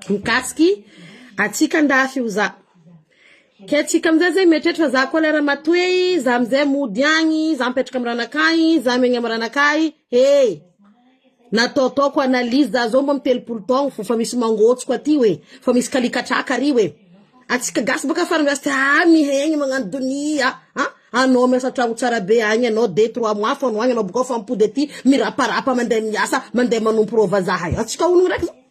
mikasiky atsika andafy io za ke tsika amizay zay mieritreritra fa za koa lera matoey za amizay mody agny za mipetraka am ranakay za miaigny am ranakay hey nataotaoko analyse za zao mbo am telopolo taogno fô fa misy mangôtsoko aty hoe fa misy kalikatraka ary hoe atsika gasy baka afara miasa ty aa mihaigny magnano donia a anao miasa antragno tsara be agny anao deux trois mois fô no agny anao bokao fa mipody aty miraparapa mande miasa mande manompo rô vazaha eo atsika ologno raiky zao.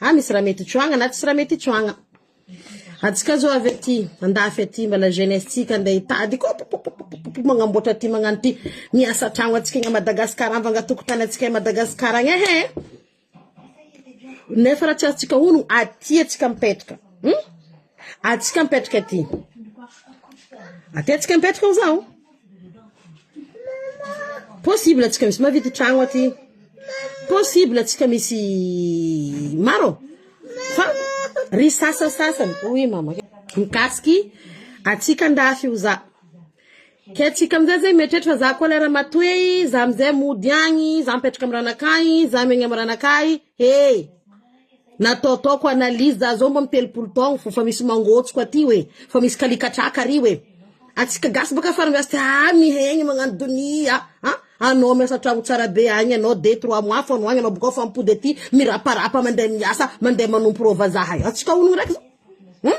Ah misy raha mety tsoagna na tsisy raha mety tsoagna. Antsika zao avy aty andafy aty mbala jeunesse tsika ande hitady ko popopopopopo magnamboatra ty magnano ty miasa an-tragno antsika egny à Madagascar amvanga tokotany antsika à Madagascar agny ehe nefa raha tsy azontsika honogno aty antsika mipetraka hum atsika mipetraka aty aty antsika mipetraka hoy zaho. Possible tsika misy mahavita tragno aty possible tsika misy maro fa ry sasasasany oui mama mikasiky atsika andafy io za ke atsika amizay zay mieritreritra fa za koa lera matoe za amizay mody agny za mipetraka amy ranakahy za miaigny amy ranakahy Hey! Nataotaoko analyse za zao mbo mitelopolo taogno fô fa misy mangôtsoko aty hoe, fa misy kalikatraka ary hoe, atsika gasy bôka fa miasa aa mihegny magnano donia a, an anao miasa an-tragno tsara be agny anao deux trois mois fô anao agny anao bôkao fa mipody aty miraparapa mande miasa mande manompo rô vazaha eo, atsika honogno raiky zao, hum.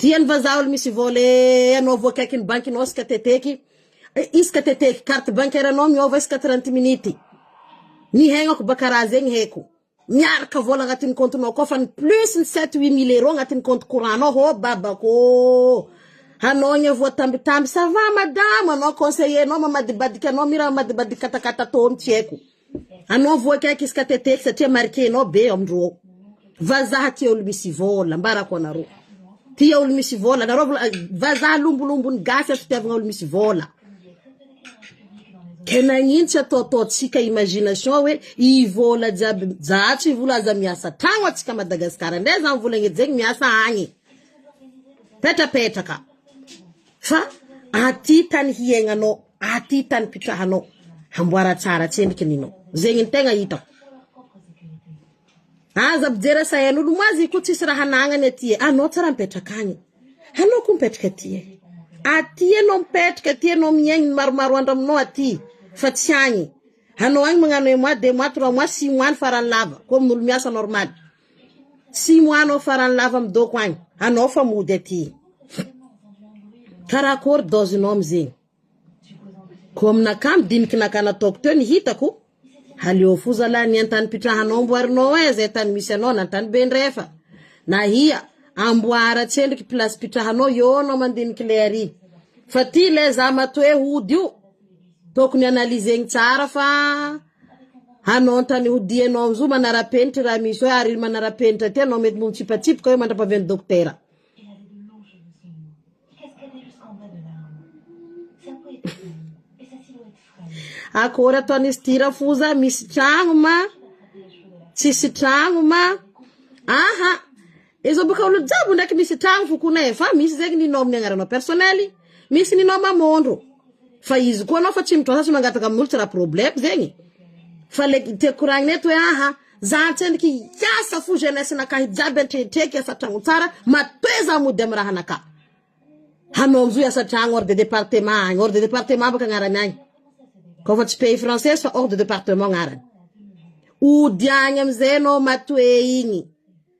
Diany vazaha ol misy vole anao vo akaikin'ny banky nao ska teteky iska teteky carte bancaire nao miova iska trente minute ny haignako ba karaha zegny haiko miaraka vola agnatin'ny compte nao koa fa ny plus ny sept huit mille euro agnatin'ny compte courant nao hô babako ô hanao ny voatambitamby ça va madama anao conseiller nao mamadibadika anao mira mamadibadika katakata tô tsy haiko. Anao voa kaiky izy ka teteky satria marquenao be eo am ro ao. Vazaha tia olo misy vola, ambarako anareo. Tia olo misy vola anareo mbola vazaha lombolombon'ny gasy ato tiavagna olo misy vola. Ke nagnino tsy ataotaontsika imagination hoe i vola jiaby zahatry i vola aza miasa tragno atsika Madagascar ndray zany vola gnejegny miasa agny petrapetraka fa aty tany hiaignanao. Aty tany pitrahanao hamboara tsara tsendriky ny nao zegny ny tegna hitako aza mijery asain'olo moa azy ko tsisy raha anagnany aty e anao tsara mipetraka agny anao ko mipetraka aty e aty anao mipetraka aty anao miaigny ny maromaro andro aminao aty fa tsy agny anao agny magnano un mois deux mois trois mois six mois ny farany lava ko amin'olo miasa normaly Tsy mo anao farany lava am dôko agny anao fa mody aty kara akôry dôzy nao amzegny ko aminakahy am diniky naka nataoko teo ny hitako aleo fo zalah ny antany pitrahanao amboarinao e zay tany misy anao na tany be ndray efa na ia amboara tsendriky pilasy pitrahanao eo anao mandiniky le ary fa ty le za matoe hody io tokony analyzegny tsara fa. Hanao an-tany hody ianao amin'izao manara-penitra raha misy hoe ary manara-penitra aty ianao mety mitsipatsipoka hoe mandra-pavian'ny dokotera. Akôry ataon'izy ity rafoza misy tragno ma tsisy tragno ma aha Ezo boka olo jiaby ndraiky misy tragno fo kona efa misy zegny ny nom ny agnaranao personnel misy ny nom amondro fa izy koa anao fa tsy mitrasa tsy mangataka aminolo tsy raha problème zegny fa le tiako koragnina eto hoe aha za antsendriky hiasa fo jeunesse nakahy jiaby antrehitrehiko hiasa tragno tsara matoe za mody amy raha naka hanao amzo hiasa tragno hors de departement agny hors de departement baka agnarany agny kô fa tsy pays française fa hors de departement agnarany ody agny amizay anao matoe igny.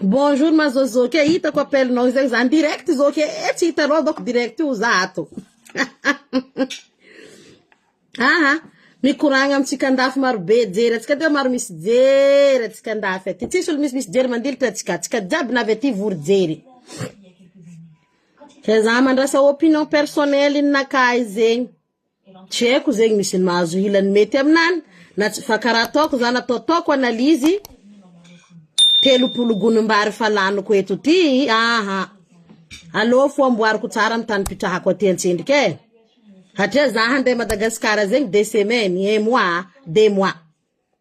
Bonjour ma Zozo, ke hitako appel nao izay zany direct izao ke eh, tsy hitanao donc direct io za ato. Aha, mikoragna amintsika andafy maro be jery atsika teo maro misy jery atsika andafy aty. Tsisy olo misy misy jery mandilitra atsika, atsika jiaby na avy aty vory jery. Ke za mandrasa opinion personnel nakay zegny. Tsy haiko zegny misy mahazo ilany mety aminany na tsy fa karaha ataoko zany ataotaoko analyse telopolo gonimbary fa laniko eto ty aa aleo fo amboariko tsara ny tanipitrahako aty antsendrika e satria za handeha Madagascar zegny de semaine e mois de mois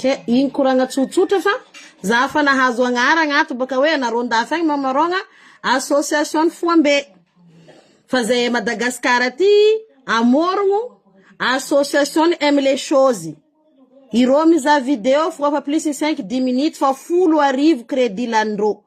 Kay iny koragna tsotsotra fa za afa nahazo agnaragna ato baka hoe anareo andafy agny mamarogna association foambe fa zay à Madagascar aty amorogno association aime les choses ireo mizaha video foa fa plus cinq dix minutes fa folo arivo credit laninreo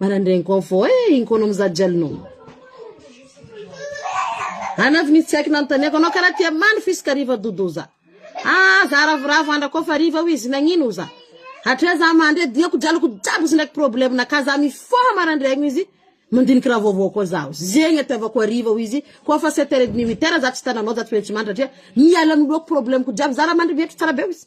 Manandraigny koa fô e, ino koa anao mizaha jalonao. Ana avy nisy tsy haiko nanontaniako anao karaha tia mandro f'izy ka riva dodo oza. Ah za ravoravo andra koa fa riva oizy nagnino oza. Hatrea za mandry e, diako draloko jiaby izy ndraiky problème na ka za mifoha marandraigny oizy, mandiniky raha vaovao koa zaho. Zegny itiavako hariva oizy, koa fa sept heures et demi huit heures za tsy tananao za tsy maintsy mandry hatrea miala noloako problème ko jiaby za raha mandry mietry tsara be oizy.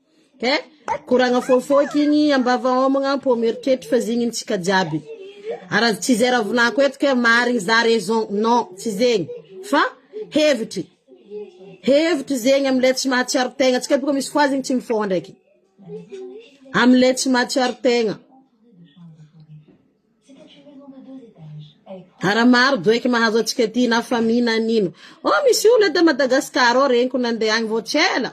He koragna fofoika igny ambava homagna am-po mieritreritra fa zegny antsika jiaby ara tsy zay raha volako eto ke marigny za raison non tsy zegny fa hevitry hevitry zegny amle tsy mahatsiaro tegna antsika boka misy foie zegny tsy mifôha ndraiky amle tsy mahatsiaro tegna. Ara maro doiky mahazo atsika aty na famille na nino. Oh misy olo eto Madagascar ao reniko nande agny vao tsy ela.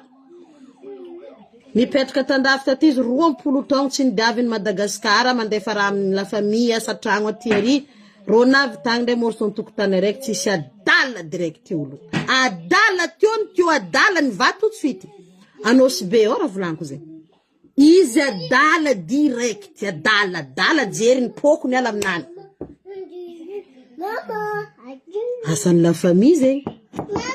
Mipetraka tandafy taty izy roampolo taogno tsy nidiaviny Madagascar mandefa raha amin'ny la famille asa tragno aty ary. Rô navy tagny ndray môrso antokotany araiky tsisy adala direct olo. Adala teo ny teo adala ny vato tsy fito. Anosibe ao raha volaniko zegny. Izy adala direct adala adala jery ny poko miala aminany. Asan'ny la famille zegny.